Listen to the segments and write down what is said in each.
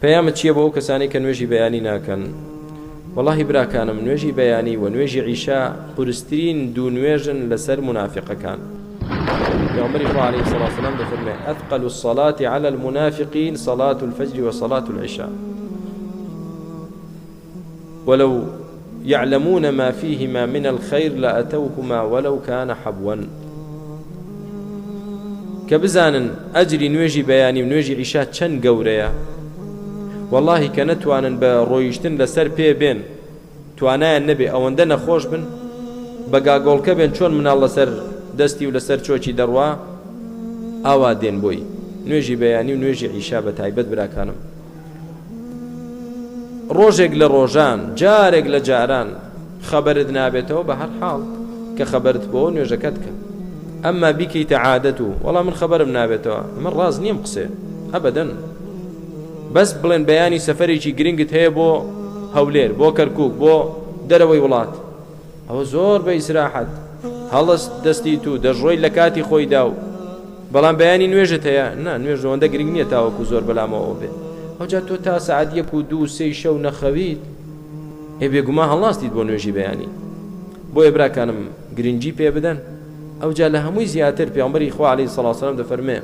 پەیامت چیە بۆ ئەو کەسانەی کە نوێژی بەیانی ناکەن وەڵاهی براکانم نوێژی بەیانی و نوێژی عیشا قورسترین دوو نوێژن لەسەر منافقەکان پێغەمبەری خوا عەلەیهی سڵاو سلام دەفەرمێ ئەثقل الصلاة على المنافقین صلاة الفجر و صلاة العشاء ولو یعلمون ما فیهما من الخیر لاتوهما ولو کان حبوا کە بزانن ئەجری نوێژی بەیانی و نوێژی عیشا چەند گەورەیە وەڵاهی کە نەتوانن بە ڕۆیشتن لەسەر پێ بێن توانایان نەبێ ئەوەندە نەخۆش بن بە گاگۆڵکە بێن چۆن مناڵ لەسەر دەستی و لەسەر چۆکی دەڕوا ئاوا دێن بۆی نوێژی بەیانی و نوێژی عیشا بە تایبەت براکانم ڕۆژێک لە ڕۆژان جارێک لە جاران خەبەرت نابێتەوە بە هەر حاڵ کە خەبەرت بۆ نوێژەکەت کە ئەمما بیکەیتە عادەت و وەڵام من خەبەرم نابێتەوە من ڕاز نیم قسێ ئەبدەن بەس بڵێن بەیانی سەفەرێکی گرنگت هەیە بۆ هەولێر بۆ کەرکک بۆ دەرەوەی وڵات ئەوە زۆر بە ئیسراحەت هەڵست دەستیت و دەشڕۆیت لە کاتی خۆیدا و بەڵام بەیانی نوێژت هەیە نا نوێژ ئەوەندە گرنگ نییە تاوەکو زۆر بەلامەوە بێت ئەوجا تۆ تا سەعات یەک و دوو سێی شەو نەخەویت ئێ بێگوما هەڵاستیت بۆ نوێژی بەیانی بۆیە براکانم گرنگی پێ بدەن ئەوجا لە هەمووی زیاتر پێمبەری خوا عليه سڵ سلام دەفەرمێ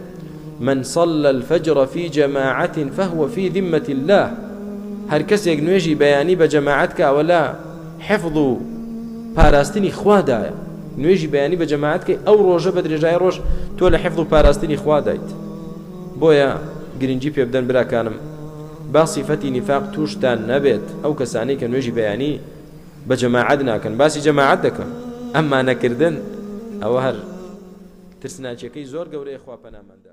من صلى الفجر في جماعة فهو في ذمة الله هەر کەسێک نوێژی بەیانی بە جەماعەت کاوەلا حفظ و پاراستنی خوادایە نوێژی بەیانی بە جەماعەت کەی ئەو ڕۆژە بە درێژایی ڕۆژ تۆ لە حفظ و پاراستنی خوادایت بۆیە گرنگی پێ بدەن براکانم با صفەتی نفاق توشتان نەبێت ئەو کەسانەی کە نوێژی بەیانی بە جەماعەت ناکەن باسی جەماعەت دەکەم ئەمما نەکردن ئەوە هەر ترسناکیەکەی زۆر گەورەیە خوا پەناماندا